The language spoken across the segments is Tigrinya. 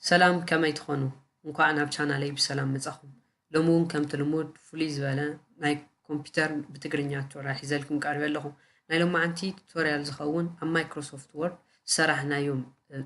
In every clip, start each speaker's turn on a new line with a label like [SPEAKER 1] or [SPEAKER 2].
[SPEAKER 1] ሰላም ከመይ ትኾኑ እንኳዕ ናብ ቻናለይ ብሰላም መጻኹም ሎሚ እውን ከምቲ ልሙድ ፍሉይ ዝበለ ናይ ኮምፒውተር ብትግርኛ ቱቶሪያል ሒዘልኩም ቀሪበ ኣለኹ ናይ ሎማዓንቲ ቱቶሪያል ዝኸውን ኣብ ማይክሮሶፍት ወርድ ዝሰራሕናዮም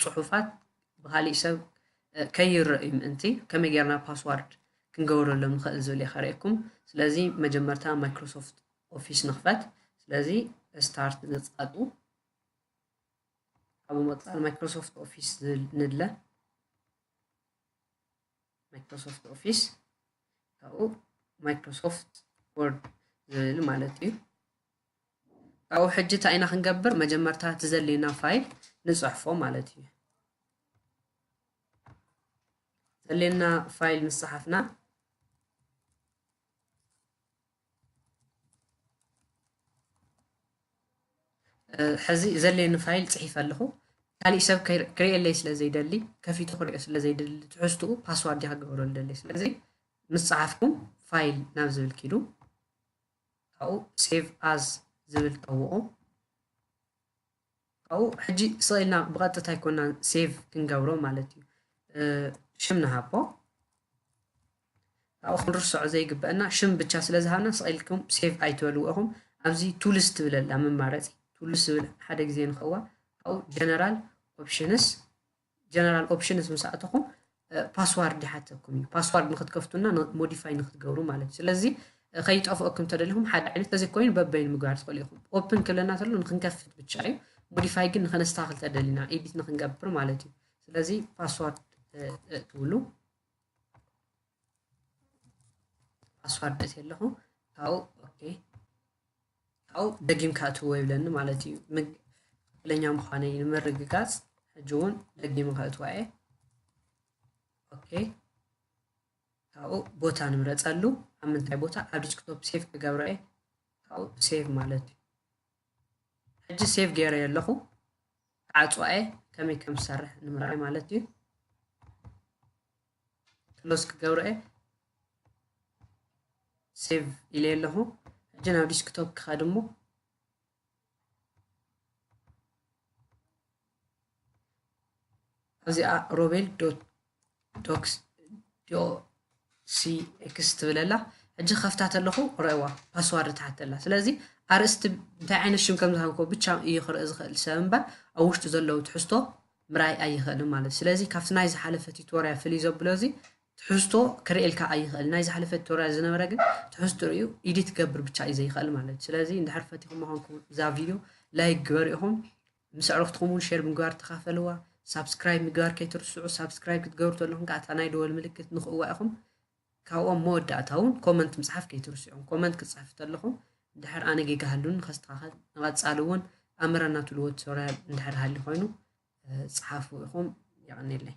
[SPEAKER 1] ፅሑፋት ብካሊእ ሰብ ከይረእዩ ምእንቲ ከመይ ጌርና ፓስዋርድ ክንገብረሎም ንኽእል ዝብል እየ ከርእየኩም ስለዚ መጀመርታ ማይክሮሶፍት ኦፊስ ንኽፈት ስለዚ ስታርት ንፃጡ ካብዚ ምቕፃል ማይክሮሶፍት ኦፊስ ዝብል ንድለ ማይክሮሶፍት ኦፊስ ካብኡ ማይክሮሶፍት ወርድ ዝብል ማለት እዩ ካብኡ ሕጂ እንታይ ኢና ክንገብር መጀመርታ እቲ ዘድልየና ፋይል ንፅሕፎ ማለት እዩ ዘድልየና ፋይል ምስ ፀሓፍና ሕዚ ዘድልየኒ ፋይል ፅሒፈ ኣለኹ ካሊእ ሰብ ክርእየለይ ስለ ዘይደሊ ከፊቱ ክሪኦ ስለ ዘይደሊ ትሕዝትኡ ፓስዋርድ እያ ክገብሮ ዝደሊ ስለዚ ምስ ፀሓፍኩም ፋይል ናብ ዝብል ኪዱ ካብኡ ሴቭ ኣዝ ዝብል ጠውቑ ካብኡ ሕጂ ስቕ ኢልና ብቐጥታ ኣይኮናን ሴቭ ክንገብሮ ማለት እዩ ሽም ንሃቦ ካብኡ ክንርስዖ ዘይግበአና ሽም ብቻ ስለ ዝሃብና ስቕ ኢልኩም ሴቭ ኣይትበልዎ ኢኹም ኣብዚ ቱልስ ትብለላ መማረፂ ቱልስ ዝብል ሓደ ግዜ ንኸዋ ካብኡ ጀነራል ኦፕሽንስ ጀነራል ኦፕሽንስ ምስ ኣተኹም ፓስዋርድ ይሓተኩም እዩ ፓስዋርድ ንክትከፍቱና ሞዲፋይ ንክትገብሩ ማለት እዩ ስለዚ ከይጠፍኦኩም ተደሊኹም ሓደ ዓይነት ተዘይ ኮይኑ በበይኑ ምግባር ትኽእሉ ኢኹም ኦፕን ክብለና ተሎ ንክንከፍት ብቻ እዩ ሞዲፋይ ግን ንከነስተካክል ተደሊና ኤዲት ንክንገብር ማለት እዩ ስለዚ ፓስዋርድ ትብሉ ፓስዋርድ ኣትየ ኣለኹ ካብኡ ኦኬ ካብኡ ደጊምካ እትዎ ይብለኒ ማለት እዩ ትክክለኛ ምዃነይ ንምርግጋፅ ሕጂ እውን ደጊመ ከእትዋ እየ ኦኬ ካብኡ ቦታ ንምረፀሉ ኣብ ምንታይ ቦታ ኣብ ዲስክቶፕ ሴቭ ክገብሮ እየ ካብኡ ሴቭ ማለት እዩ ሕጂ ሴቭ ገይረ ኣለኹ ክዓፅዋ እየ ከመይ ከም ዝሰርሕ ንምርኣይ ማለት እዩ ክሎዝ ክገብሮ እየ ሴቭ ኢለ ኣለኹ ሕጂ ናብ ዲስክቶፕ ክኸድ እሞ ኣብዚኣ ሮቤል ዶክስ ዶሲኤክስ ትብል ኣላ ሕጂ ከፍታ ተለኹ ረእዋ ፓስዋርድ ትሓት ኣላ ስለዚ ኣርእስቲ እንታይ ዓይነት ሽም ከም ዝሃብኮ ብቻ እዩ ክርኢ ዝኽእል ሰብ እምበር ኣብ ውሽጡ ዘለዉ ትሕዝቶ ምርኣይ ኣይኸእልን ማለት እዩ ስለዚ ካብቲ ናይ ዝሓለፈ ቲቶርያ ፍልይ ዘብሎ እዚ ትሕዝቶ ክርእየልካ ኣይኸእል ናይ ዝሓለፈ ቲቶርያ ዝነበረ ግን ትሕዝቶ ርዩ ኢዲት ገብር ብቻ እዩ ዘይኸእል ማለት እዩ ስለዚ እንድሕር ፈቲኹም ኾንኩም እዛ ቪድዮ ላይክ ግበሩ ኢኹም ምስ ኣዕሩኽትኩም እውን ሼር ምግባር ተኻፈልዋ ሳብስክራይብ ምግባር ከይትርስዑ ሳብስክራይብ ክትገብሩ ተለኹም ከዓ እታ ናይ ደወል ምልክት ንኽእዋ ኢኹም ካብኡ ኣብ መወዳእታ ውን ኮመንት ምጽሓፍ ከይትርስዑ ኮመንት ክትጽሕፉ ተለኹም እንድሕር ኣነ ጌጋ ሃሉኒ ንኸስተኻኸል ንቐጻሊ ውን ኣምረና ትብልዎ ቱቶርያል እንድሕር ሃልዩ ኮይኑ ጽሓፉ ኢኹም የቐኔለይ።